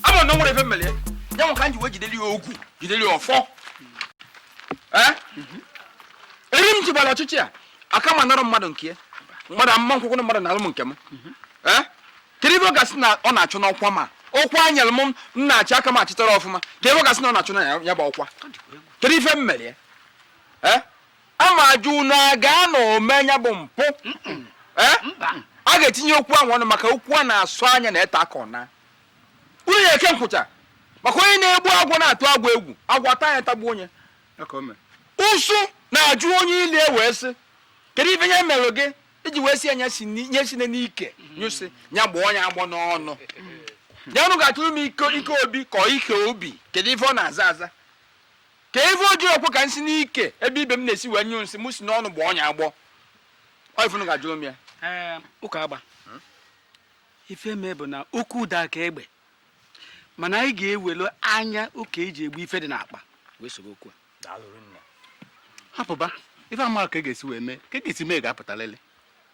ama na o nwere ife m mele ya ya nwe ka m ji wee jideli ya ogu jideli ya ọfọ Eh? eri m jibala ọchịchị a aka ma nara mmadụ nke mmadụ ama m kwekwọ mmadụ nalụ m nke m Eh? kedu ife ọ ga-asị na ọ na-achụ n'ọkwa m a ọkwa a nyere m m na-achị ọ ka m achịtarọ ọfụma kedu ife ọ ga-asị na ọ na-achụ na ya- ya bụ ọkwa kedu ife m mere ya Eh? ama ajụ unu a gaa na ome ya bụ mpụ eh? a ga-etinye okwu ahụ ọnụ maka okwu a na-asọ anya na-ete aka ọ na unu ya eke nkwụcha maka onye na-egbu agwọ na-atụ agwọ egwu agwọ ata nya tagbuo nye ụsụ na-ajụ onye ili wee sị kedu ife nye mere gị iji wee si ya nye si n'ike nyụ nsị ya gbọọ nye agbọ n'ọnụ ya unu ga-ajụrụ m ike obi ka ike obi kedu ife ọ na-aza aza ka ife o ji okwu ka m si n'ike ebe ibe m na-esi wee nyụ nsị m si n'ọnụ gbọọ nya agbọ ọ ife unu ga-ajụrụ m ya ụka agba hmm? ife mee bụ na okwu ụda ka egbe mana anyị ga-ewelu anya ụka eji egbu ife dị n'akpa wee soro okwu a hapụba ife ama ka e ga-esi wee mee ka e ga-esi mee ga-apụtalịlị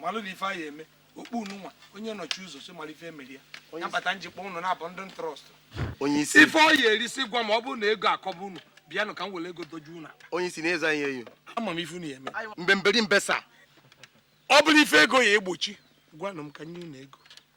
malụ na ife anyị eme okpu unu nwa onye nọchi ụzọ si mara ife emeri ya ya bata njikpọ unu na-abụ ndị m trust onye isi ife ọ ya erisi gwa m ọ bụrụ na ego akọba unu bịanụ ka m were ego doju unu akpa onye isi na eze anyị eyo ama m ife unu ya eme mbemberi mbesa ọ bụrụ ife ego ya egbochi gwanụ m ka m nye unu ego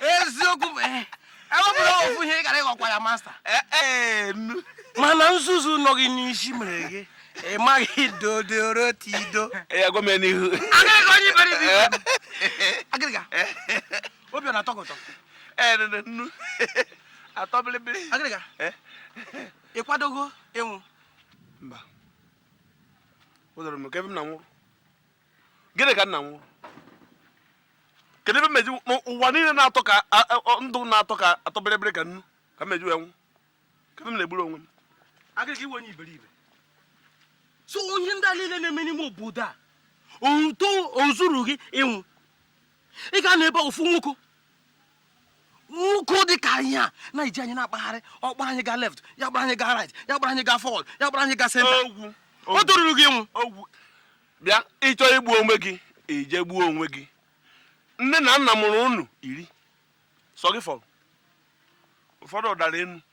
eziokwu bụ eh, ewepụla ofu ihe ị gara ịghọkwa ya masta eh, eh, mana nzuzu nọ gị n'isi mere gị ị maghị dodoro tido agịrịga onye iberibe agịrịga obi ọ na-atọ gị ụtọ ee nene nnu atọ bịrịbịrị agịrịga eh? ị kwadogo ịnwụ mba o doro m ka ebe m na-anwụrụ gịnị ka m na-anwụrụ kedu ebe m eji ụwa niile na-atọ ka ndụ na-atọ ka atọ bịrịbịrị ka nnu ka m eji wee nwụ ka ebe m na-egburu onwe m agịrịga ị wụ onye iberibe so ihe ndị a niile na-eme n'ime obodo a o zurughị ịnwụ ị ga-anọ ebe ofu nwoke nwoke dị ka anyị a na-eji anyị na-akpagharị ọ kpara anyị gaa left ya akpara anyị gaa right ya akpara anyị gaa forward ya akpara anyị gaa center o toruru gị ịnwụ bịa ị chọọ igbu onwe gị ị je gbuo onwe gị nne na nna mụrụ unu iri sọ gị fọrọ ụfọdụ ọ dara enu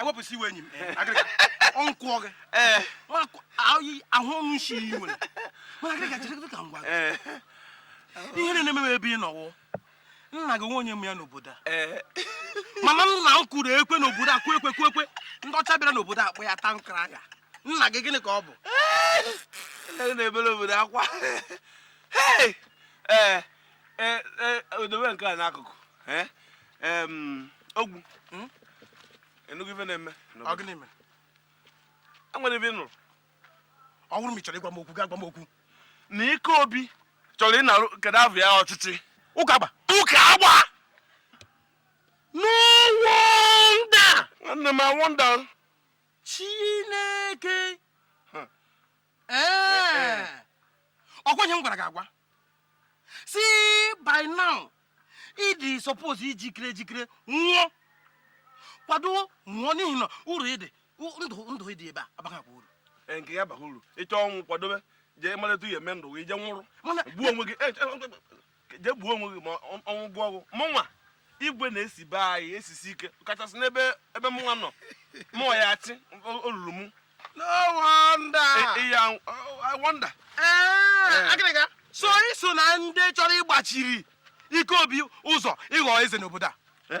ewepụsị iwe enyi m ọnkwụọ gị ahụ ọnụ isi iyi nwere mana agịrịga chere ka m gwa gị ihe na-eme m ebe ị nọ wụ nna gị onye ma ya n'obodo a eh. mana nna m kụrụ ekwe n'obodo a kwekwe kwekwe ndị ọcha bịara n'obodo a kpọọ ya town crier nna gị gịnị ka ọ bụ eh. na-ebere obodo akwa eh. e, e, odowe nke a n'akụkụ e, ogwu hmm? ị nụgo ife na-eme enwere ife m nụrụ ọ bụrụ ma ị chọrọ ịgwa m okwu gaa gwa m okwu na ike obi chọrọ ịnarụ kedu afọ ya ọchịchị ụka agba ụka agba no wonder nwanne m i wonder chineke ee ọkwa ihe m gwara gị agwa sị by now ị dị suppose ijikere ejikere nwụọ kwado nwụọ n'ihi na uru ịdị ndụ ndụ ị dị ebe a abaghịkwa uru e, nke ya baghị uru ị chọọ ọnwụ kwadobe jee maleta ihe eme ndụ gị jee nwụrụ gbuo onwe gị e, e, jee gbuo onwe gị ma ọ wụ ṅụọ ọgwụ mụnwa igwe na-esi be anyị esisi ike kachasị n'ebe ebe mụnwa nọ mụnwa ya-achị olulu mụ no wonder iya e, e, i wonder eh, agịrịga so i so na ndị chọrọ ịgbachiri ike obi ụzọ ịghọ eze n'obodo a eh?